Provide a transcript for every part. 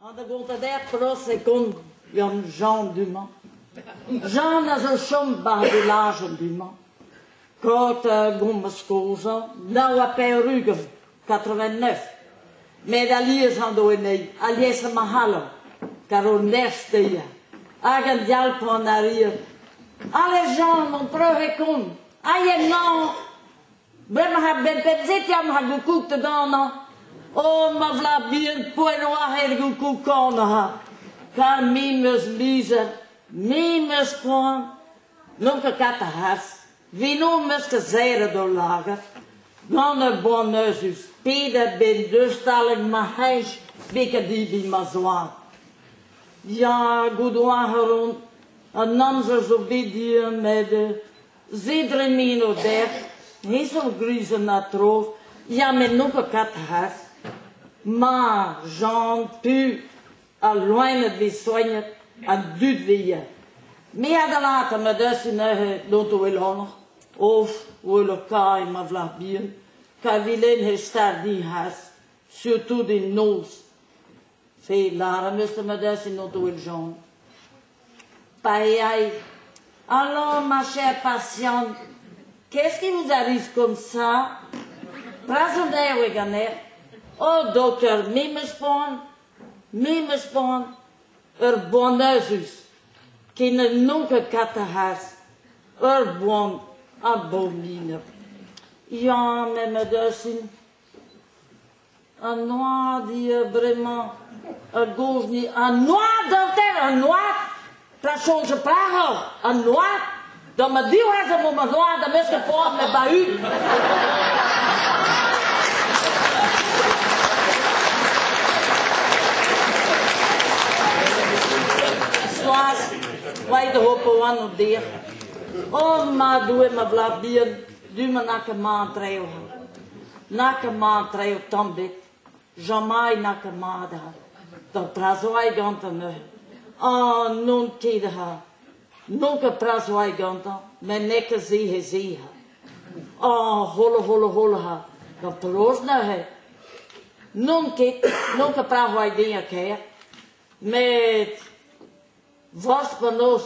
An da gontat er pros e kont gant Jean du-mañ. Jean a zo chom bar vilaj du-mañ. Kot a gommas kozhañ nav ha pevar-ugent. 89. Met alies an do enei, alies ma c'halon, kar o nerz teia. Hag an dialpon a rir, Ale Jean, mon preuve e con, aien non, brema ha ben penzetiam ha goukouk te dana, o ma vla bien poenoar er goukouk kanaha, kar mi meus mizer, mi meus koan, non ka kat a has, Vino 'm eus kasaeret ul lagad gant ur boan euzhus pedet ben deus taleg ma c'hej bekadiviñ ma zoaz. Ya, goudouarc'h on, an amzer zo bet dir met se dremeno dec'h, ezhomm grizhenn ha tro, ya met n'on ket kat c'has. Ma, Jean, tu, Al loened 'vez soignet, an dud 'vez. Me a dalata ma deufe neuze dont o elanoc'h, of wel o kae ma vlah bihan, pa vilen he stardi has, surtout en noz. Fe lâra meus ma deufe dont o eljan. Pa eai, alors ma chère patiente, qu'est-ce qui vous arrive comme ça? Prasant eo e ganer. O, dokter, me meus poan, Me 'm eus c'hoant ur boan azus ken n'on ket kataraz ur boan a baolineb. Ya, memes dosin. An oad eo bremañ a gov ni an oad hanter, an oad! pa soñje parroc'h an noaz, da ma divrec'h emañ ma noaz da mesk poan me ba-ud. Soaz, vai de hope wan o dir. O ma doe ma vlad bihan, du ma nac emañ treo. Nac emañ treo tamm bet. Jamai n'a ket mat ha da drazoiñ gantañ neuze. Ah, n'on ket ha n'on ket drazoiñ gantañ met n'eo ket se he se ha. Ah, hola hola hola ha gant penaos neuze n'on ket, n'on ket drazoiñ den a-ker met forzh penaos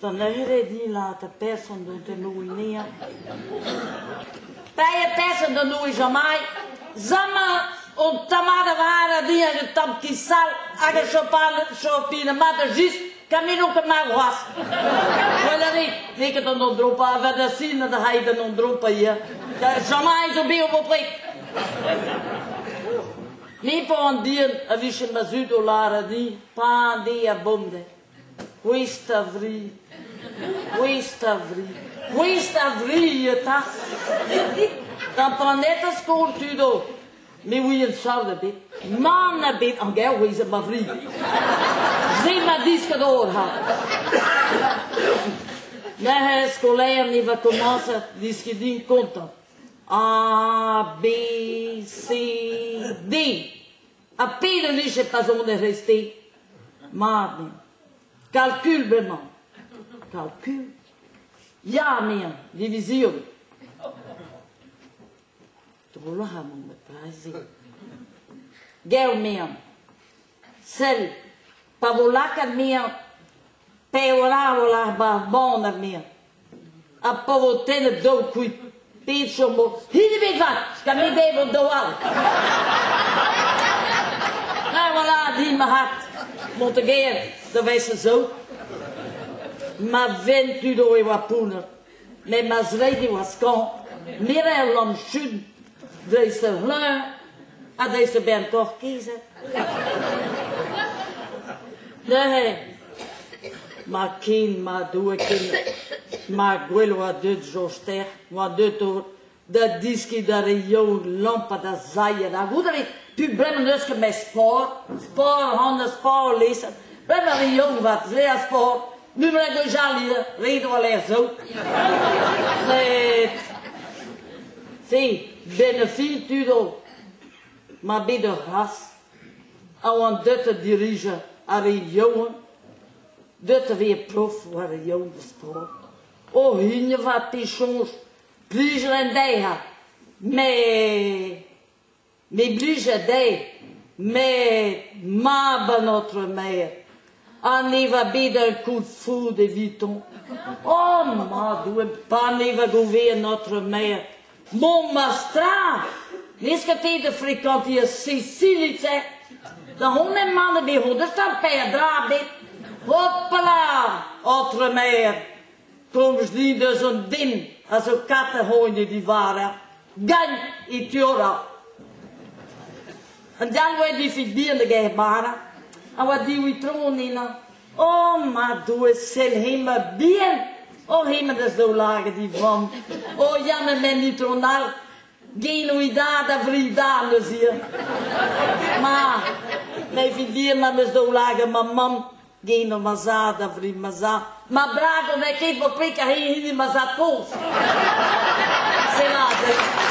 D'an eurediñ-lañ 'ta person dont en o ene-hañ. Paeañ person d'an Doue Jamai, zamañ on tamall avat a diag un tamm ki-sall hag a chopal chopin mat just gant menon ket ma groaz. Wel a rit, n'eo ket an andro pa vat a sin da rait an andro pa ya. Da Jamai zo bet o bopred. Me pa an dien a vijen ma zud o lâret di, pa an de a bomde. Gouest a vri. Gouest a vri. Gouest a vri eta. D'am planet a skol tud all. Ne ouien sav da bet. Mann a bet an ger ouez ma vri. Se ma diskat or ha. Neuze skolaer ni va komañset diski din kontañ. A, B, C, D. Ha pet a vije pa sonerezh-te? Mat eo. Kalkul bremañ. Kalkul? Ya, anezhañ. Divizion. Drolloù amon ma paz-se. Gell mean. Sell. Pa vo lakaat mean, pe voilà, voilà, ba, bon ar mean. Ha pa vo tennet deoc'h kuit, pet chomoc'h hit ebet vat, gant e beb hon daou all. Trawalc'h din marc'had Montegern da vezañ zo. Ma ven tud o e oa pounner, met ma zreid e oa skañv, mirer lamm chun Deus a vloaz ha deus a-benn Porkizet. Neuze, ma kin, ma douekin, ma gwell oa deuet Joster, oa deuet o da diski d'ar re youl lampat a zailhet hag out evit pu breman eus ket mes sport, sport hon a sport lesan, breman ar re youl vat se a sport, Mimle gwechall ivez, ret oa lec'h zo. Met, si, benefill tud o, ma bet ur ras, a oant deut a dirijañ ar re yaouank, deut a vez prof war ar yaouank da sport. O hini vat pe soñj, plij ren dezhañ, met Me blija dezhe, met mab an aotrou maer ha ne va bet ar koulz-foud evitañ. O madoue, pa nevoa govet an aotrou maer Montmartre, leusket eo da frekañtiñ ar Sesilitz-se. Da hon eman eo bet o deus ar per dra ebet. Hopala, aotrou maer, Komzli deus an den a zo katerc'hoen e divara, gagn e tiora. An dalvoa e difik bihan da gae bara, a oa diwi tron ina. O, ma doe sel hema bihan, o hema da zaoulage di vam. O, jamme men ni tron all, geno i da da vri da neus ir. Ma, me fin dir ma meus daoulage ma mam, Gino ma zad a vri ma zad. Ma brago n'è che vo pe che hini ma zad pos. Se lade.